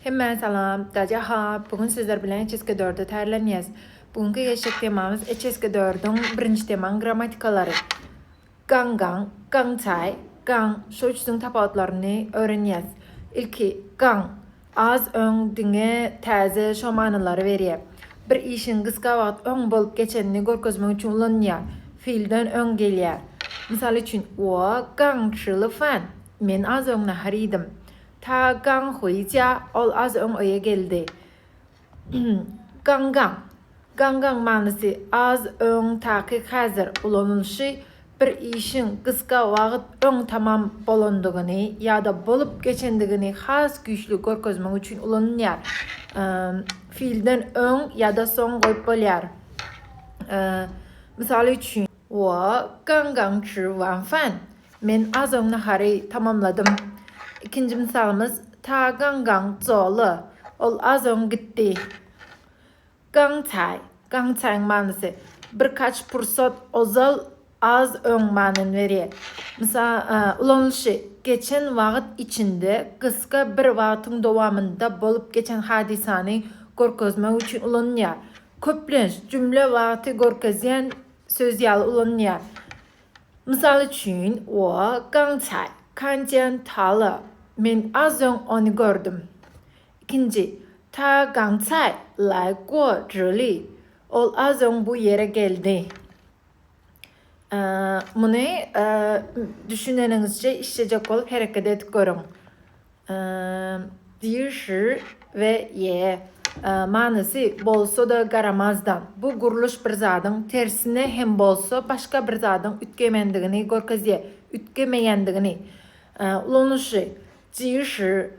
Hemmä salam, Daja ha, bu gün sizler bilen HSG dörde taýýarlanýas. Bu günki geçjek temamyz HSG dördüň birinji temaň grammatikalary. Gaň gaň, gaň çaý, gaň şu üçüsiň tapawutlaryny öwrenýäs. Ilki gaň, az öň diňe täze şo manylary berýär. Bir işiň gysga wagt öň bolup geçenini görkezmek üçin ulanylýar. Feelden öň gelýär. Mysal üçin, Wo gaň şyly fan. Men az öň nahar iýdim. Ta Gang Huýja, ol az öň öýe geldi. Gang Gang. Gang Gang manysy az öň, takyk häzir ulanylyşy bir işiň gysga wagt öň tamam bolandygyny ýa-da bolup geçendigini has güýçli görkezmek üçin ulanylýar. Fiilden öň ýa-da soň goýup bolýar. Mysal üçin. Wo Gang Gang Zhi Wan Fan. Men az öň nahary tamamladym. Ikinji mysalymyz Ta gang gang zo ly. Ol az öň gitdi. Gang caý. Gang caýyň manysy birkaç pursat ozal, az öň manyny berýär. Mysal, ulanylyşy, Geçen wagt içinde gysga bir wagtyň dowamynda bolup geçen hadysany görkezmek üçin ulanylýar. Köplenç jümle wagty görkezýän söz ýaly ulanylýar. Mysal üçin, wo gang cai, kan jian ta le, men az öň ony gördüm. Ikinji, Ta gang cai lai guo zhi li, ol az öň bu ýere geldi. Muny düşüneniňizçe işlejek bolup hereket edip görüň. Dýşi we ýe. Manysy, Bolsa-da garamazdan. Bu gurluş bir zadyň tersine hem bolsa başga bir zadyň üýtgemendigini görkezýär, üýtgemeýändigini. Ulanyşy, Dýşi,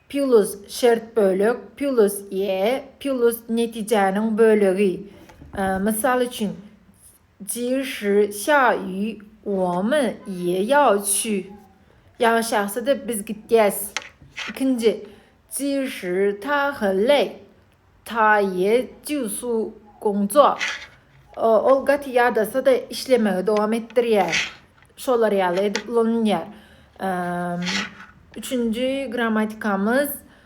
pýulus, şert bölek, pýulus, ýe, pýulus, netijäniň bölegi. Mysal üçin, Ji shi xia yu, wo men ye yao qu. Ýagyş ýagsa-da, biz gidýäs. Ikinji, Ji shi ta he lei, ta ye jiu su gong zuo. Ol gaty ýadasa-da, işlemegi dowam etdirýär. Şolar ýaly edip ulanylýar. Üçünji grammatikamyz.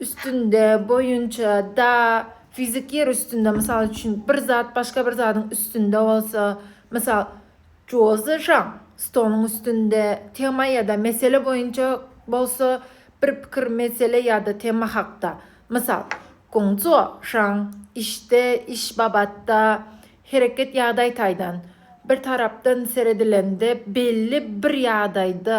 üstünde, boýunça, da, fizik ýer üstünde, mysal üçin, bir zat başga bir zadyň üstünde bolsa, mysal, Joze Žan stoluň üstünde, tema ýa-da mesele boýunça bolsa, bir pikir, mesele ýa-da tema hakda, mysal, Gongzuo Žan işde, iş babatda, hereket ýagdaý taýdan, bir tarapdan seredilende, belli bir ýagdaýda,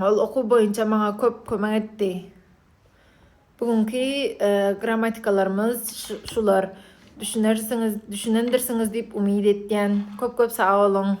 Ol okuw boýunça maňa köp kömek etdi. Bu günki grammatikalarymyz şular. Düşünersiňiz, düşünendirsiňiz diýip umyt etýän. Köp-köp sag boluň.